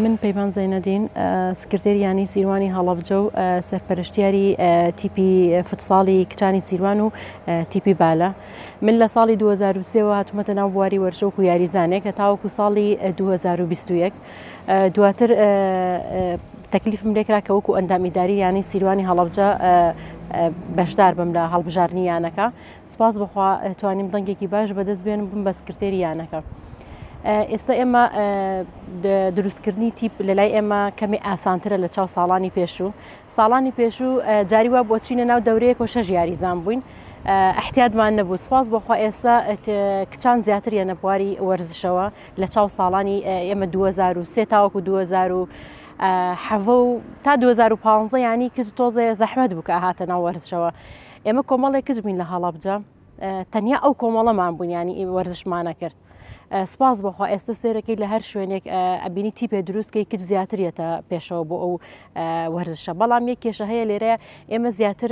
من پەیمان زەینەدین سکرتێری یانی سیروانی هەڵەبجە و سەرپەرشتیاری تیپی فوتساڵی کچانی سیروان و تیپی بالە من لە ساڵی 2023 هاتومەتە ناو بواری وەرشۆک و یاریزانێک کە تاوەکو ساڵی 2021 دواتر تەکلیفم لێکرا کە وەکو ئەندام ئیداری یانەی سیروانی هەڵەبجە بەشدار بم لە هەڵبژاردنی یانەکە سپاس بخوا توانیم دەنگێکی باش بەدەست بێن بم بە سکرتێری یانەکە. ئێستا ئێمە دروستکردنی تیپ لە لای ئێمە کەمی ئاسانترە لە چاو ساڵانی پێشوو ساڵانی پێشوو جاری وا بۆ چینە ناو دەورەیە کۆ شەژ یاریزان بووین احتیادمان نەبوو سپاس بۆخوا ئێستا کچان زیاتر یەنە بواری وەرزشەوە لە چاو ساڵانی ئێمە دوو هەزار و سێ تاوەکو دوو هەزار و حەڤە و تا دوو هەزار و پانزە یانی کچ تۆزێ زەحمەت بوو کە هاتە ناو وەرزشەوە ئێمە کۆمەڵێک کچ بووین لە هەڵەبجە تەنیا ئەو کۆمەڵەمان بوون یانی ئی وەرزشمانە کرد سپاس بۆخوا ئێستا سێرەکەی لە هەر شوێنێک ئەبینی تیپێ دروستکەی کچ زیاتریەتە پێشەوە بۆ ئەو وەرزشە بەڵام یەک کێشە هەیە لێرە ئێمە زیاتر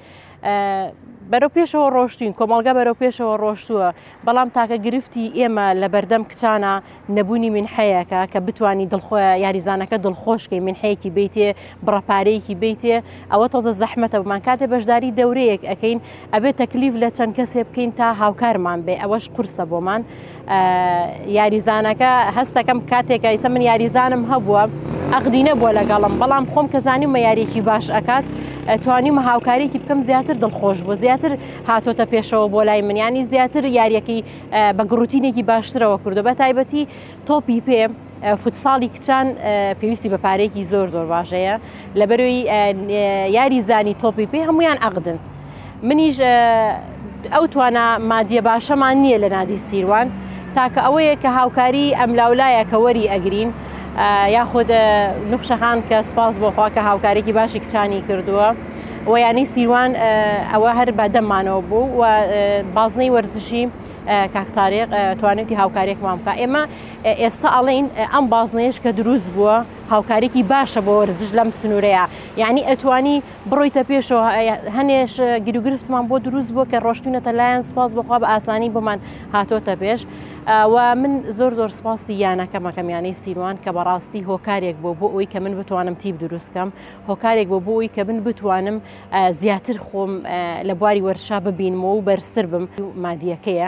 بەرەو پێشەوە ڕۆشتین کۆمەڵگە بەرەو پێشەوە ڕۆشتووە بەڵام تاکە گرفتی ئێمە لە بەردەم کچانە نەبوونی منحەیەکە کە بتانی دڵخۆ یاریزانەکە دڵخۆشکی منحەیەکی بیتێ بڕەپارەیەکی بیتێ ئەوە تۆزە زەحمەتە بمان کاتێ بەشداری دەورەیەک ئەەکەین ئەبێت تەکلیف لە چەند کەسێ بکەین تا هاوکارمان بێ ئەوەش قورسە بۆمان یاریزانەکە هەستەکەم کاتێکە ئیسە من یاریزانم هەبووە ئەقدی نەبووە لەگەڵم بەڵام خۆم کە زانیمە یاریێکی باش ئەکات توانیمە هاوکاریکی بکەم زیاتر دڵخۆش بوو زیاتر هاتۆتە پێشەوە بۆ لای منیانی زیاتر یاریەکەی بە گڕوتینێکی باشترەوە کردو بە تایبەتی تۆپی پێ فوتساڵی کچان پێویستی بە پارێکی زۆر زۆر باشەیە لە بەرەوەی یاری زانی تۆپی پێ هەمویان عقدن منیش ئەو توانە مادیە باشەمان نییە لە نادی سیروان تاکە ئەوەیە کە هاوکاری ئەملاولایە کە وەری ئەگرین یاخود نوخشەخان کە سپاس بۆخوا کە هاوکارێکی باشی کچانی کردووە. و یانی سیروان ئەوە هەر بە دەمانەوە بوو و بازنەی وەرزشی کاکتارێک توانێتی هاوکارێکمان بکە ئێمە ئێستا ئەڵێن ئەم بازنەیەش کە دروست بووە هاوکاریکی باشە بۆ وەرزش لەم سنوورەیە یعنی ئەتوانی بڕۆیتە پێشەوە هەنێش گیروگرفتمان بۆ دروست بووە کە ڕۆشتونەتە لایەن سپاس بخوا بە ئاسانی بۆمان هاتۆتە پێش و من زۆر زۆر سپاسی یانەکەمەکەم یانەی سیروان کە بەڕاستی هۆکارێک بۆ بۆ ئەوی کە من بتوانم تیب دروستکەم هۆکارێک بۆ بۆی کە من بتوانم زیاتر خۆم لە بواری وەرشا ببینمەوە و بەرسەر بم مادیەکەیە.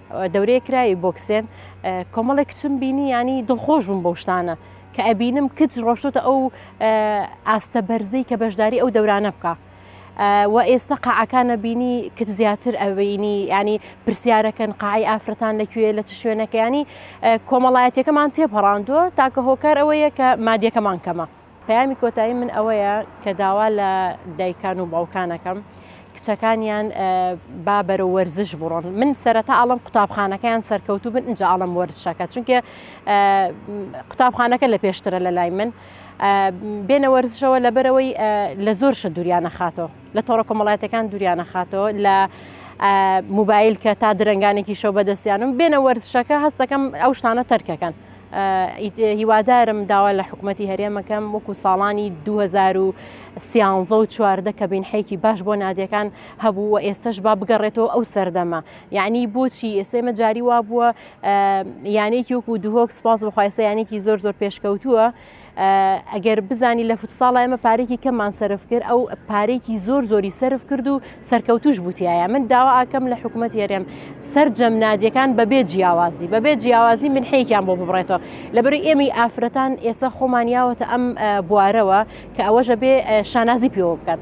دەورەیە کراوی بۆکسێن کۆمەڵێک کچم بینی ینی دڵخۆش بووم بەو شتانە کە ئەبینم کچ ڕۆشتۆتە ئەو ئاستە بەرزەی کە بەشداری ئەو دەورانە بکە و ئێستا قاعەکانە بینی کچ زیاتر ئەوینی ینی پرسیارەکەن قاعی ئافرەتان لەکوێ لە چ شوێنەکەیانی کۆمەڵایەتەکەمان تێپەڕاندووە تاکە هۆکار ئەوەیە کە مادیەکەمان کەمە پەیامی کۆتایی من ئەوەیە کە داوا لە دایکان و باوکانەکەم کچەکانیان با بەرە وەرزش بڕۆن من سەرەتا ئاڵم قوتابخانەکەیان سەرکەوتو بن اینجا ئاڵم وەرزشەکە چونکە قوتابخانەکە لە پێشترە لە لای من بێنە وەرزشەوە لەبەرەوەی لە زۆر شە دوریانە خاتەوە لە تۆڕە کۆمەڵاتەکان دوریانە خاتەوە لە موبایل کە تا درنگانێکی شەو بەدەستیانم بێنە وەرزشەکە هەستەکەم ئەو شتانە تەرکەکەن. هیوادارم داوا لە حکوومەتتی هەرێمەکەم وەکو ساڵانی 2013 و چواردە کە بینحێکی باش بۆ نادەکان هەبوو و ئێستش با بگەڕێتەوە ئەو سەردەمە یعنی بۆچی ئێسێمە جاری وا بووە یانێکی وەکو دهۆک سپاس بەخوایسە یانێکی زۆر زۆر پێشکەوتووە ئەگەر بزانی لە فوتساڵ ئێمە پارێکی کەممان سرف کرد ئەو پارێکی زۆر زۆری سرف کرد و سەرکەوتوش بوتایە من داوا ئاکەم لە حکوومەت هێرێم سرجەم نادیەکان بەبێ جیاوازی بەبێ جیاوازی من حەیەکیان بۆ ببڕێتەوە لەبەری ئێمەی ئافرەتان ئێستا خۆمانیاوەتە ئەم بوارەوە کە ئەوەژە بێ شانازی پێوە بکات.